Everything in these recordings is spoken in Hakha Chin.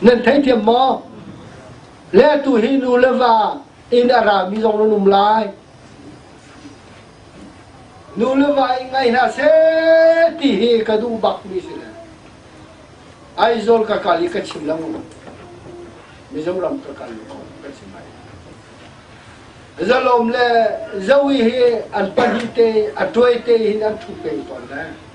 Nan theithiam maw? Le tu hi nu le va inn a rami zong nan um lai. Nu le va in ngai hna seh ti hi ka duh bakmi si le. Aizawl ka kal i ka chim lo. Mizoram ka kal ka chim ai. Zalom le Zoe hi an pahnih te a tuai te hin an thu pe tawn le.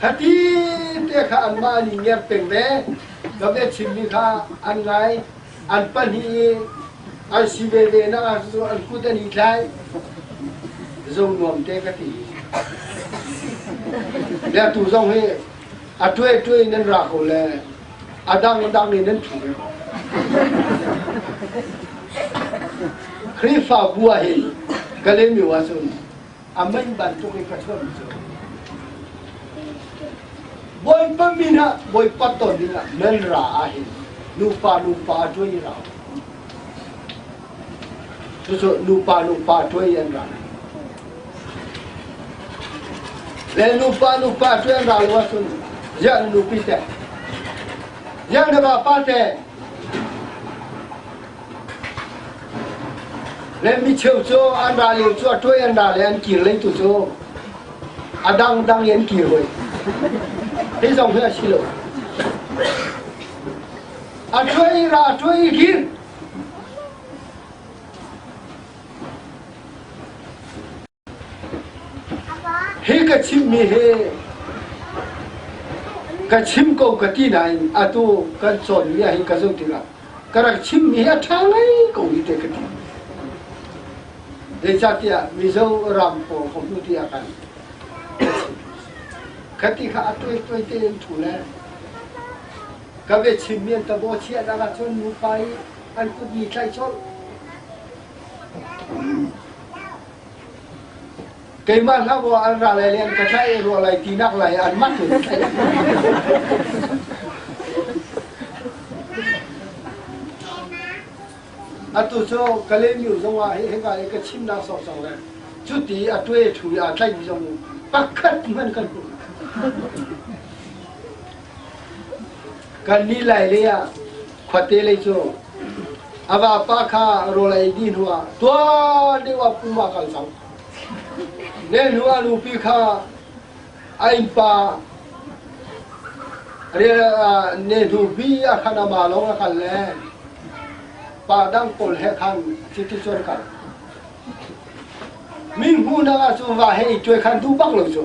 Hati te kha anmah nih ngiar peng ve. Ka biachimmi kha an ngai, an pahnih i an si veve nakah cu an kut an i tlai. Zong nuam te ka ti. Biatu zong hi a tuai tuai nan ra ko le a dang a dang in nan thu ve ko. Khrihfabu ah hin ka lemi wa cun Amen bantuk i ka chawn cu. Bawipa min ah, Bawipa ton ding ah men ra ah hin nupa nupa tuai i ra. Cucu nupa nupa tuai an ra. Le nupa nupa tuai an ra lo ahcun ziah nupi te, ziah na ba pa te, Rem micheu cu an ra lio cu a tuai an ra le an kir lei tu cu a dangdang in an kir hoi. Hi zong hi a si lo. A tuai i ra, a tuai i kir. Hi ka chimmi hi ka chim ko ka ti nain atu kan cawnmi ah hin ka zulh tikah ka rak chimmi hi a ṭha ngai ko hi teh ka ti. Zeicahtiah Mizo ram pawl ka hmuh ti ah khan ka chim. Ka ti kha a tuai tein thu le ka biachimmi an tabaw chiah nak ahcun nupa i an kut ni thlai colh. Keimah hlah aw an ra lai le an ka tlaih i ruah lai tinak lai an mah cu atu cu Kalemyu zongah hi hika i ka chimnak sawksawk le cuti a tue thu i aa tlaihmi zong pakhat hmanh kan hmu. Kannih lailei ah khuate lei cu a vapa kha rawl ei dih hnuah tuan deuh ah pum ah kan sam. Ne hnuah nupi kha a innpa ne hnupi a khan a ma lawng a kal le pa dang pawl he khan chiti chuan kal. Min hmuhnak ah cu va he i tuai khan duh bak lo cu.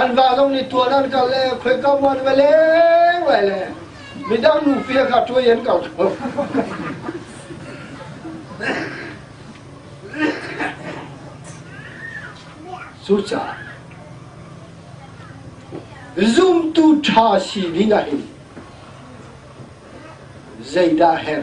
An va zong nih tuan an kal le khoi ka muan ve leng lai le midang nu fia kha tuai an kal ko. Sucha zumtu tha si ding ahhin zeidah her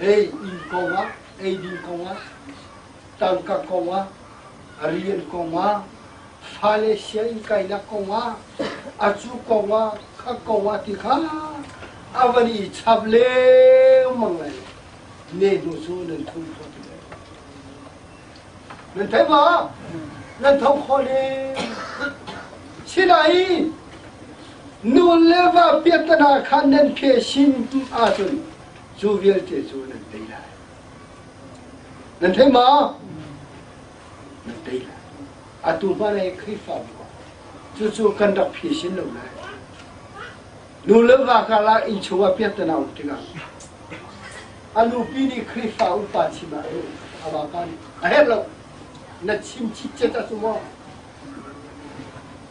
ei inn kongah, eidin kongah, tangka kongah, rian kongah, fale sianginn kainak kongah, a cu kongah, a kongah ti kha a van i chap lengmang lai lo. Ne hnu cu nan thum khawh ti lai. Nan thei ba? Nan tho khawh ne. Sinain, nu le va piattana kha nan ke sin ahcun cu vialte cu nan tei lai. Nan thei ma? Nan tei lai. Atu hmanh ai Khrihfabu ah cucu kan rak phi sin lo lai. Nu le va karah innchungah piattana um tikah a nupi nih Khrihfa upa chim ah lu a vapa nih a herh lo na chim chit cet a cu maw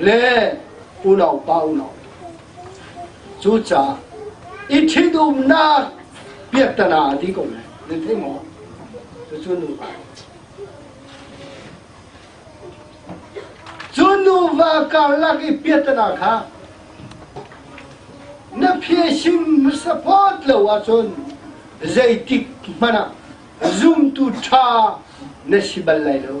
le unaupa unau cucaah i ṭhitumnak piaktana hna ti ko ne na thei maw cucu nuva cu nuva karlak i piaktana kha na phieshim support lo ahcun zeitik hmanh ah zumtu ṭha na si bal lai lo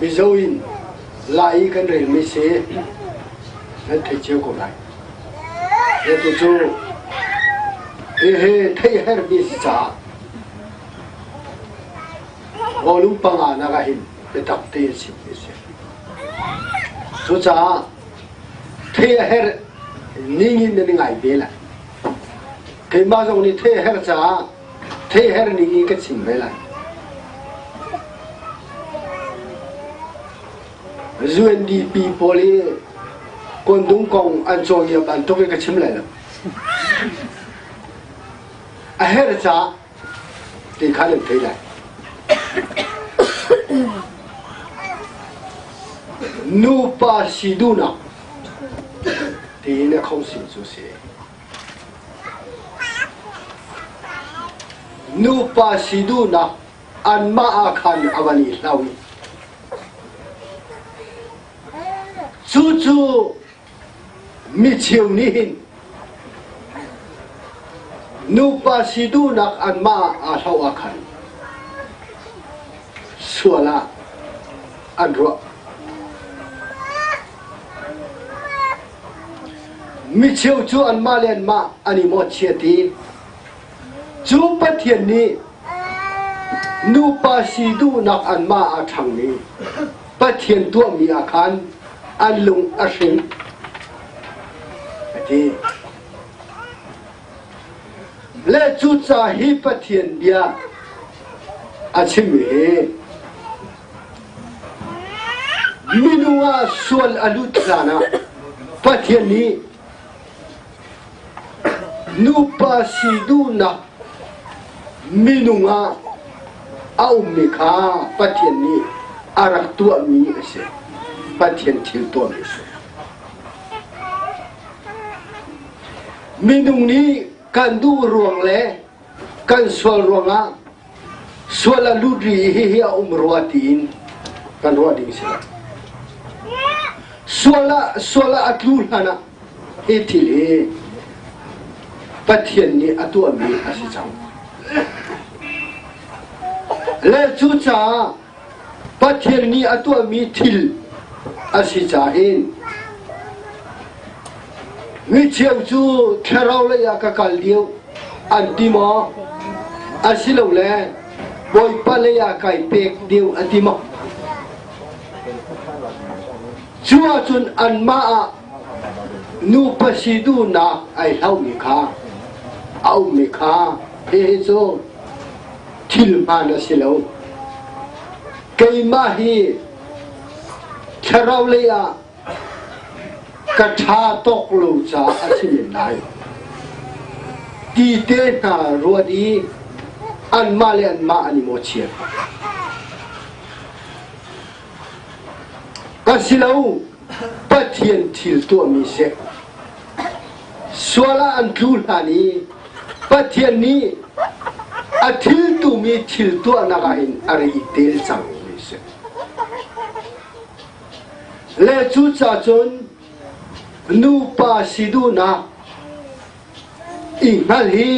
Mizo in la i kan relmi si nan thei cio ko lai. He tu cu hihi thei hermi si caah rawlum panga nak ah hin biatak tein sim hi si. Cucaah thei a her ning in nan ngai ve lai. Keimah zong nih thei a her caah Theihher ning in ka chim ve lai. UNDP pawl hi Kondung kong an cawi a bantuk i ka chim lai lo. A her ca ti kha nan thei lai. Nupa si duhnak tiin a khong sim cu si. Nupa si duhnak anmah ah khan a van i hlo. Cucu micheu nih hin nupa si duhnak anmah aa hlo ah khan sual ah an ruah. Micheu cu anmah le anmah an i mawhchiat i cu Pathian nih nupa si duhnak anmah aa ṭhangmi Pathian tuahmi ah khan an lung a hring, a ti. Le cu ca hi Pathian bia a chim i Na nu ah sual a lut hlan ah Pathian nih nupa si duhnak minung ah a ummi kha Pathian nih a rak tuahmi a si. Pathian thil tuahmi a si. Minung nih kan duh ruang le kan sual ruangah Sual a lut ri hihi a um rua tiin kan ruah ding si lo. Sual ah, sual ah a tlu hlan ah hi thil hi Pathian nih a tuahmi a si cang. Le cucaah Pathian nih a tuahmi thil a si cain micheu cu thlarau lei ah ka kal deuh an ti maw? Asilole Bawipa lei ah kai pek deuh a ti maw? Cu ahcun anmah ah Nupa si duhnak ai hlauhmi kha a ummi kha hihi cu thil hmaan a si lo. Keimah hi thlarau lei ah ka ṭha tawk lo caah a si men lai. Ti te hna ruat i anmah le anmah an i mawhchiat. Ka si lo Pathian thil tuahmi si. Sual ah an tlu hlan i Pathian nih a thil tumi thil tuahnak ah hin a ri tel cang mi si. Le cu ca cun nupa si duhnak i hngal hi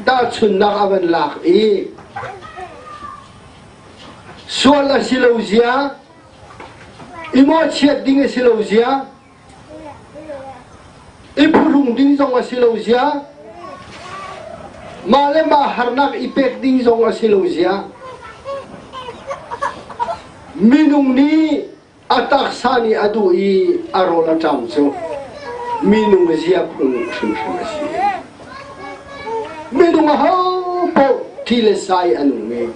tahchunnak a van lak i sual a si lo zia I mawhchiat ding a si lo zia, i phuhrung ding zong a si lo zia, mah le mah harnak i pek ding zong a si lo zia. Minung nih a taksa nih a duh i a rawl a ṭam cu minung zia phung hrimhrim a si. Minung ho paoh thi le sai an um i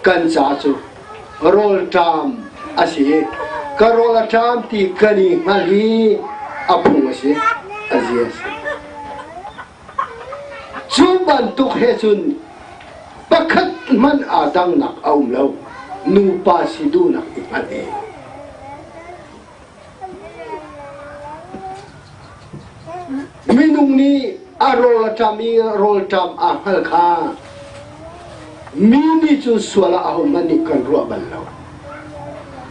kan caah cu rawlṭam a si i ka rawl a ṭam ti kan i hngalh i a phung a si a zi a si. Cu bantuk he cun pakhat hmanh aa dangnak a um lo nupa si duhnak i hngalh i Minung nih a rawl a ṭam i rawlṭam aa hngal kha mi nih cun sual ah ahohmanh nih kan ruah bal lo.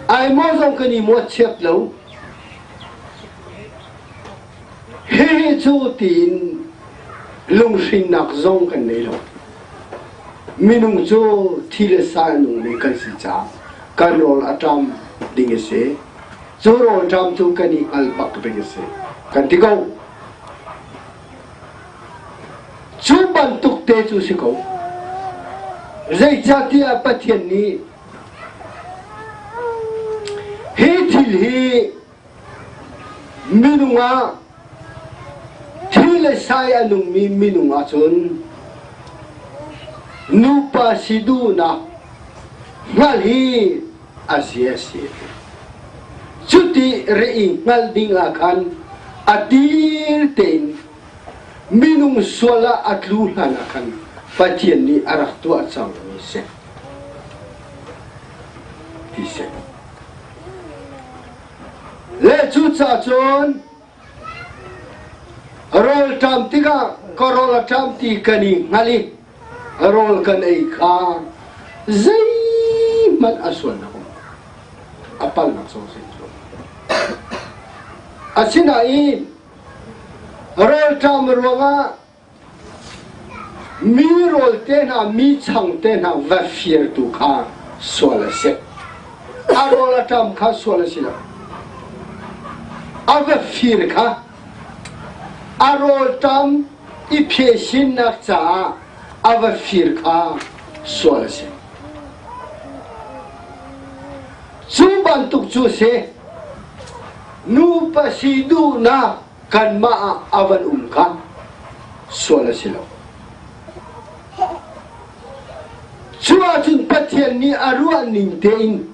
Ai maw zong kan i mawh chiat lo. Hihi cu tiin lunghrinnak zong kan nei lo. Minung cu thi le sa in ummi kan si caah kan rawl a ṭam ding a si. Cu rawl ṭam cu kan i hngalh bak ding a si kan ti ko. Cu bantuk te cu si ko. Zeicahtiah Pathian nih hi thil hi Minung ah thi le sai a nungmi minung ahcun nupa si duhnak hngalh hi a si a si. Cuti re i hngalh ding ah khan a dir tein minung sual ah a tlu hlan ah khan Pathian nih a rak tuah cangmi a si. Ti si. Le cucaah cun rawl ṭam tikah ka rawl a ṭam ti kan i hngalh i rawl kan ei kha zeihmanh a sual lo a palnak sawh sin cu asinain rawl ṭam ruangah Mi rawl te hna, mi chang te hna va firtu kha sual a si. A rawl a ṭam kha sual a si lo. A va fir kha a rawl ṭam i phesinnak caah a va fir kha sual a si. Cu bantuk cu si, nupa si duhnak Kanmah ah a van um kha sual a si lo. Cuahcun Pathian nih a ruah ning tein